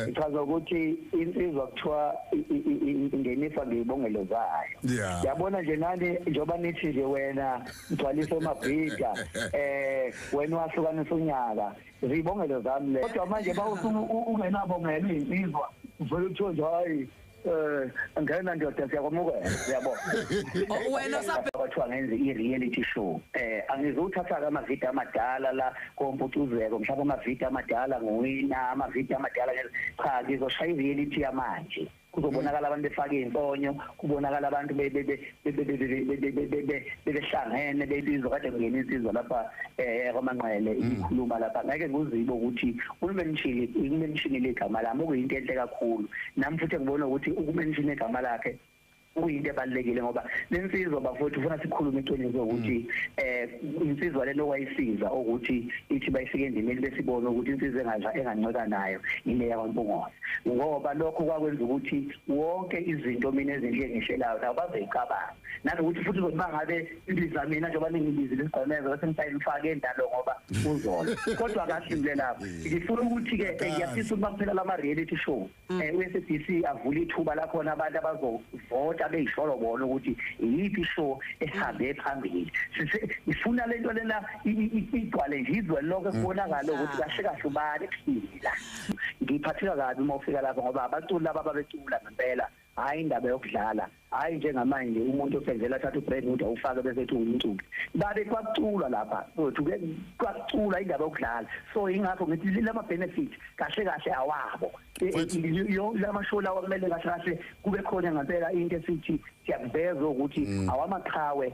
ngichaza ukuthi insizwa kuthiwa ingenisa ngiyibongelo zayo yabona nje nani njengoba nithi nje wena mthwalise umabhida eh wena wahlukanisa unyaka ziyibongelo zami le kodwa manje bawusuke ungenabongelo izinsizwa uvele uthiwe nje hayi eh ngena ndoda siyakwamukela yabo oh, wena sabathiwa ngenze i-reality show eh angizowuthatha-ke amavidiyo amadala la komputuzeko mhlawumbe amavidiyo amadala nguwina amavidiyo amadala cha ngizoshaya i-reality yamanje kuzobonakala abantu befake iy'mponyo kubonakala abantu bebehlangene bebizwa kade kungena insizwa lapha eh kwamanqele mm. ikhuluma lapha ngeke kuzibe ukuthi umenshini umenshini legama lami okuyinto enhle kakhulu nami futhi ngibona ukuthi ukumenshini igama lakhe kuyinto ebalekile ngoba lensizwa bafowethu ufuna sikhulume iqiniso ukuthi mm. eh insizwa lelo wayisiza ukuthi ithi bayifike endimeni besibona ukuthi insizwa engaza enganceka nayo ile yakwaMpungosa ngoba lokho kwakwenza ukuthi wonke izinto mina ezinhle engihlelayo nabo bazoyicabanga nanokuthi futhi uzothi bangabe ibiza mina njengoba ningibizile isigqemeza bese ngisayimfake endalo ngoba uzola kodwa kahle ngile lapho ngifuna ukuthi-ke eh, ngiyafisa ukuba kuphela lama-reality show um eh, u-sabc avule ithuba lakhona abantu abazovota beyisholo bona ukuthi iyiphi show ehambe phambili ifuna le nto lena igcwale ngizwe lonke kubonakale ukuthi kahle kahle ubani ephila ngiphatheka kabi uma ufika lapho ngoba abaculi laba babecula ngempela hayi indaba yokudlala hayi njengamanje umuntu osenzela athatha ubrand ukuthi awufake bese ethi umculi babe kwakuculwa lapha kwethu ke kwakuculwa indaba yokudlala so ingakho ngithi lama benefit kahle kahle awabo e, e, yo lama show lawa kumele kahle kahle kube khona ngempela into esithi siyakuveza ukuthi mm. awamaqhawe